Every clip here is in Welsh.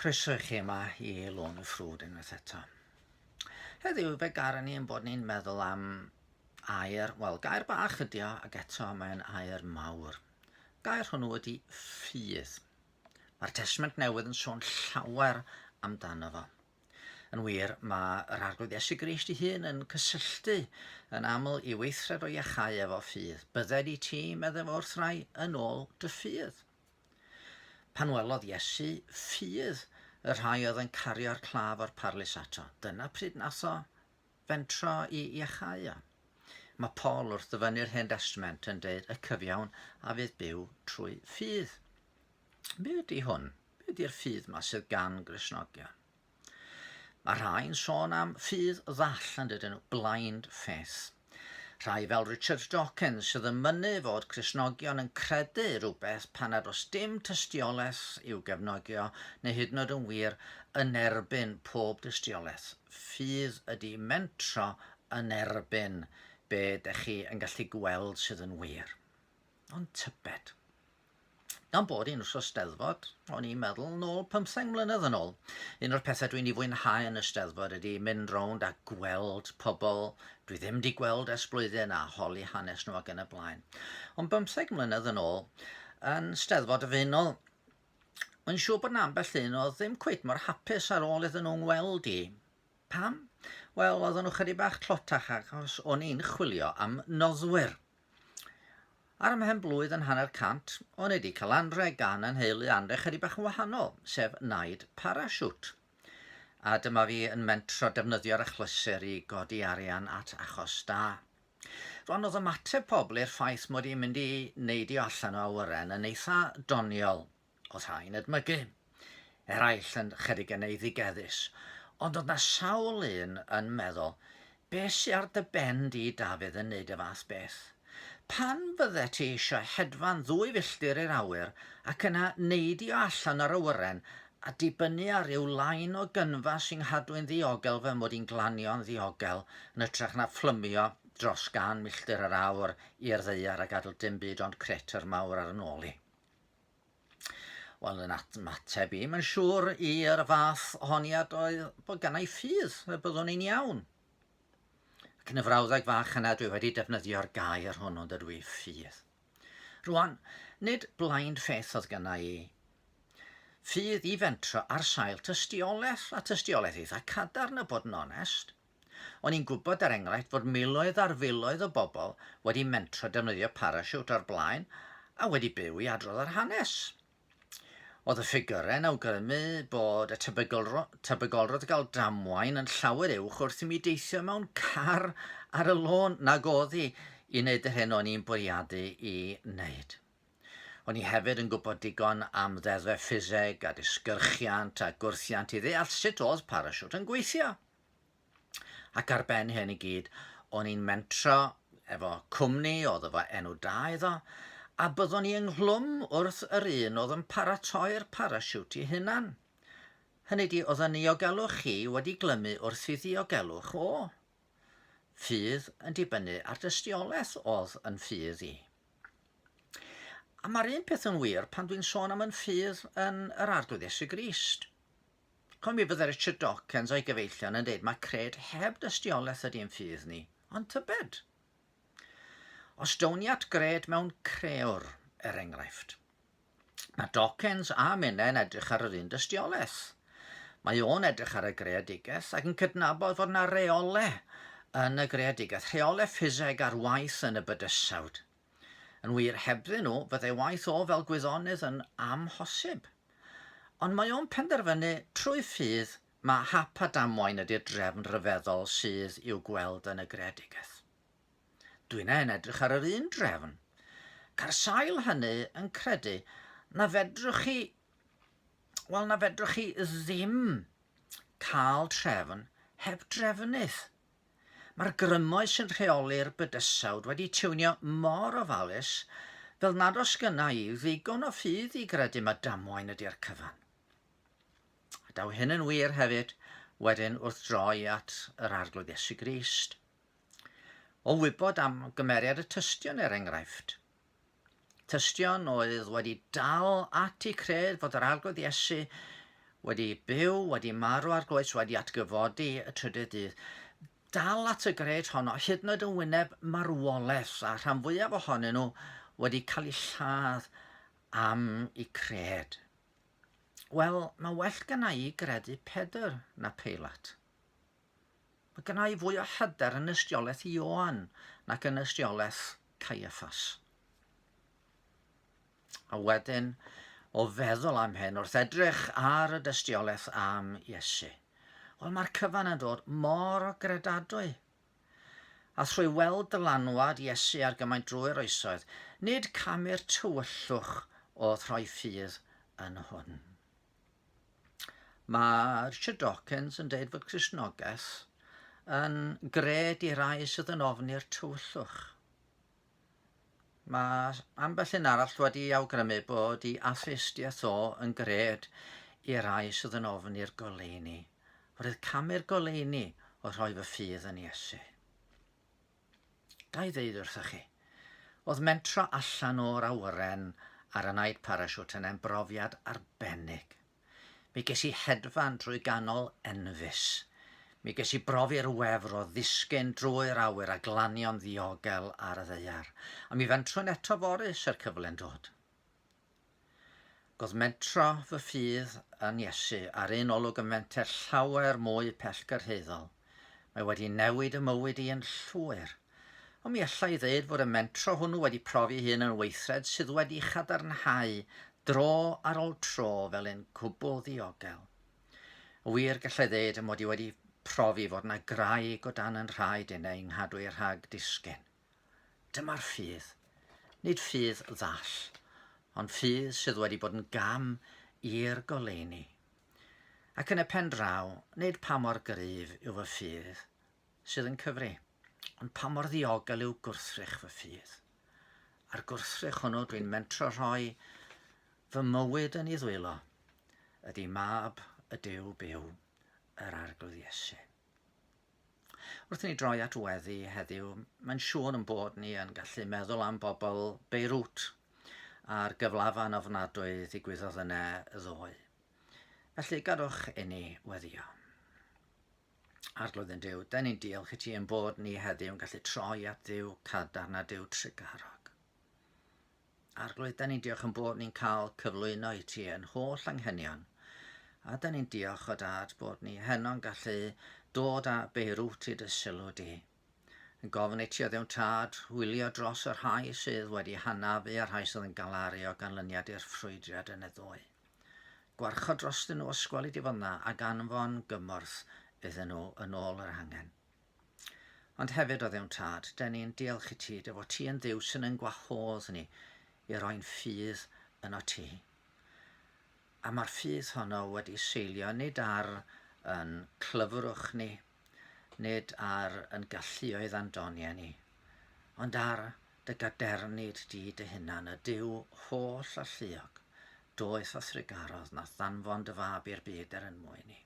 Croeso i chi yma i Lôn y Ffrwd unwaith eto. Heddiw fe garon ni yn bod ni'n meddwl am air, wel gair bach ydi o ac eto mae'n air mawr. Gair hwnnw ydi ffydd. Mae'r Testament Newydd yn sôn llawer amdano fo. Yn wir, mae yr Arglwydd Iesu Grist ei hun yn cysylltu yn aml i weithred o iachau efo ffydd. Bydded i ti, meddai fo wrth rai, yn ôl dy ffydd. Pan welodd Iesu ffydd y rhai oedd yn cario'r claf o'r parlys ato, dyna pryd nath o fentro i iachau o. Mae Paul wrth ddyfynnu'r Hen Destament yn deud y cyfiawn a fydd byw trwy ffydd. Be ydy hwn? Be ydy'r ffydd yma sydd gan Grisnogion? Mae rhai'n sôn am ffydd ddall yn dydyn nhw, blind faith. Rhai fel Richard Dawkins sydd yn mynnu fod Cristnogion yn credu rhywbeth pan nad oes dim tystiolaeth i'w gefnogio neu hyd yn oed yn wir yn erbyn pob dystiolaeth. Ffydd ydi mentro yn erbyn be dych chi yn gallu gweld sydd yn wir. Ond tybed. gan bod hi'n wsos steddfod, o'n i'n meddwl nôl pymtheng mlynedd yn ôl. Un o'r pethau dwi'n ei fwynhau yn y steddfod ydy mynd rownd a gweld pobl dwi ddim 'di gweld ers blwyddyn a holi hanes nhw ac yn y blaen. Ond bymtheg mlynedd yn ôl, yn steddfod y Faenol, Mae'n siŵr bod 'na ambell un oedd ddim cweit mor hapus ar ôl iddyn nhw'n weld i. Pam? Wel, oedden nhw chydig bach tlotach achos o'n i'n chwilio am noddwyr. Ar ymhen blwydd yn hanner cant, o'n i wedi cael anrheg gan yn nheulu anrheg chydig bach yn wahanol, sef naid parasiwt. A dyma fi yn mentro defnyddio'r achlysur i godi arian at achos da. Rwan oedd ymateb pobl i'r ffaith mod i'n mynd i neidio allan o awyren yn eitha doniol. Oedd rhai'n edmygu. Eraill yn chydig yn eiddigeddus. Ond oedd na sawl un yn meddwl, Be sy ar dy ben di, Dafydd, yn neud y fath beth? Pan fyddet ti eisiau hedfan ddwy filltir i'r awyr ac yna neidio allan yr awyren a dibynnu ar ryw lain o gynfa sy'n nghadw'n ddiogel fy mod i'n glanio'n ddiogel yn ytrach na phlymio dros gan milltir yr awr i'r ddaear a gadw dim byd ond crater mawr ar 'y nôl i. Wel, yn atmateb i, mae'n siŵr i'r fath honiad oedd bod gan ei ffydd y byddwn i'n iawn. Ac yn y frawddeg fach yna dwi wedi defnyddio'r gair hwnnw dydw i ffydd. Rwan, nid blaen ffeth oedd gyna i ffydd i fentro ar sail tystiolaeth a tystiolaeth eitha cadarn y bod yn onest, O'n i'n gwybod, er enghraifft, fod miloedd ar filoedd o bobl wedi mentro defnyddio parasiwt o'r blaen a wedi byw i adrodd yr hanes. Oedd y ffigyrau yn awgrymu bod y tebygolro, tebygolrwydd o gael damwain yn llawer uwch wrth i mi deithio mewn car ar y lôn nag oedd i i wneud yr hyn o'n i'n bwriadu i wneud. O'n i hefyd yn gwybod digon am ddeddfau ffiseg a disgyrchiant a gwrthiant i ddeall sut oedd parasiwt yn gweithio. Ac ar ben hyn i gyd, o'n i'n mentro efo cwmni oedd efo enw da iddo, a byddwn i ynghlwm wrth yr un oedd yn paratoi'r parasiwt i hunan. Hynny di, oedd yn niogelwch chi wedi glymu wrth i ddiogelwch o. Ffydd yn dibynnu ar dystiolaeth oedd yn ffydd i. A mae'r un peth yn wir pan dwi'n sôn am yn ffydd yn yr arglwydd Iesu Grist. Ond mi fydde Richard Dawkins o'i gyfeillion yn dweud mae cred heb dystiolaeth ydy yn ffydd ni, ond tybed? Os down ni at gred mewn crewr, er enghraifft, mae Dawkins a minnau yn edrych ar yr un dystiolaeth. Mae o'n edrych ar y greadigaeth ac yn cydnabod fod yna reole yn y greadigaeth, rheole ffiseg ar waith yn y bydysawd, Yn wir, hebddyn nhw, fyddai waith o fel gwyddonydd yn amhosib. Ond mae o'n penderfynu trwy ffydd mae hap a damwain ydy'r drefn ryfeddol sydd i'w gweld yn y greadigaeth. Dwi'n e'n edrych ar yr un drefn. Ca'r sail hynny yn credu na fedrwch chi wel na fedrwch chi ddim cael trefn heb drefnydd. Mae'r grymoedd sy'n rheoli'r bydysawd wedi tiwnio mor ofalus fel nad os gynna i ddigon o ffydd i gredu mae damwain ydy'r cyfan. A daw hyn yn wir hefyd wedyn wrth droi at yr Arglwydd Iesu Grist. O wybod am gymeriad y tystion er enghraifft, Tystion oedd wedi dal ati cred fod yr Arglwydd Iesu wedi byw, wedi marw ar groes, wedi atgyfodi y trydydd dydd. Dal at y gred honno, hyd yn oed yn wyneb marwolaeth, a rhan fwyaf ohonyn nhw wedi cael eu lladd am eu cred. Wel, mae well gyna i gredu Pedr na Peilat. Mae gynna i fwy o hyder yn ystiolaeth Ioan nac yn ystiolaeth Caiaffas. A wedyn, o feddwl am hyn wrth edrych ar y dystiolaeth am Iesu. Wel, mae'r cyfan yn dod mor o gredadwy. A thrwy weld dylanwad Iesu ar gymaint drwy'r oesoedd, nid camu'r tywyllwch o throi ffydd yn hwn. Mae Richard Dawkins yn deud fod Cristnogaeth yn gred i rai sydd yn ofni'r tywyllwch. Mae ambell un arall wedi awgrymu bod i atheistiaeth o yn gred i rai sydd yn ofni'r goleuni. Roedd camu'r goleuni o rhoi fy ffydd yn Iesu. Ga i ddeud wrthoch chi, oedd mentro allan o'r awyren ar y night parachute yn ein brofiad arbennig. Mi ges i hedfan drwy ganol enfys. Mi ges i brofi'r wefr o ddisgyn drwy'r awyr a glanio'n ddiogel ar y ddaear. A mi fentrwn eto fory, se'r cyfle'n dod. Gwrthmentro fy ffydd yn Iesu ar un olwg yn fenter llawer mwy pellgyrhaeddol. Mae wedi newid y mywyd i yn llwyr. Ond mi alla i ddeud fod y mentro hwnnw wedi profi hyn yn weithred sydd wedi chadarnhau dro ar ol tro fel un cwbl ddiogel. Yn wir, gallai ddeud mod i wedi profi fod na graig o dan yn rhaid i neu nghadwy rhag disgyn. Dyma'r ffydd. Nid ffydd ddall, ond ffydd sydd wedi bod yn gam i'r goleuni. Ac yn y pen draw, nid pa mor gryf yw fy ffydd sydd yn cyfri, ond pa mor ddiogel yw gwrthrych fy ffydd. A'r gwrthrych hwnnw dwi'n mentro rhoi fy mywyd yn ei ddwylo, ydy mab y Duw byw, yr Arglwydd Iesu. Wrth i ni droi at weddi heddiw, mae'n siŵr yn bod ni yn gallu meddwl am bobl Beirut a'r gyflafan ofnadwy ddigwyddodd yna ddoe. Felly, gadwch inni weddio. Arglwydd yn Dyw, da ni'n diolch i ti yn bod ni heddiw yn gallu troi at ddiw cadarn a diw trugarog. Arglwydd, da ni'n diolch yn bod ni'n cael cyflwyno i ti yn holl anghenion. A da ni'n diolch o dad bod ni heno'n gallu dod a beirwt i dy sylw di. Yn gofyn i ti o ddewn tad, wylio dros y rhai sydd wedi hanafu a'r rhai sydd yn galaru o ganlyniad i'r ffrwydriad yn y ddoe. Gwarchod drostyn nhw os gweli di fod yna ac anfon gymorth iddyn nhw yn ôl yr hangen. Ond hefyd, o Dduw'n Tad, dyn ni'n diolch i ti, dy fod ti yn ddiw sy'n yn gwahodd ni i roi'n ffydd yn o ti. A mae'r ffydd honno wedi seilio nid ar yn clyfrwch ni, nid ar yn galluoedd a'n doniau ni, ond ar dy gadernid di dy hunan, y diw holl a lliog, doeth a thrugarodd, na thanfon dy fab i'r byd er yn mwyn ni.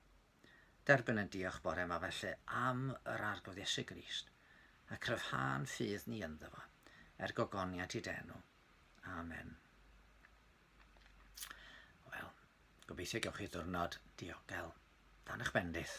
Derbyn ein diolch bore yma felly am yr Arglwydd Iesu Grist, a cryfhân ffydd ni ynddo fo, er gogoniant i denw. Amen. Wel, gobeithio gewch chi ddwrnod diogel. Dan eich bendith.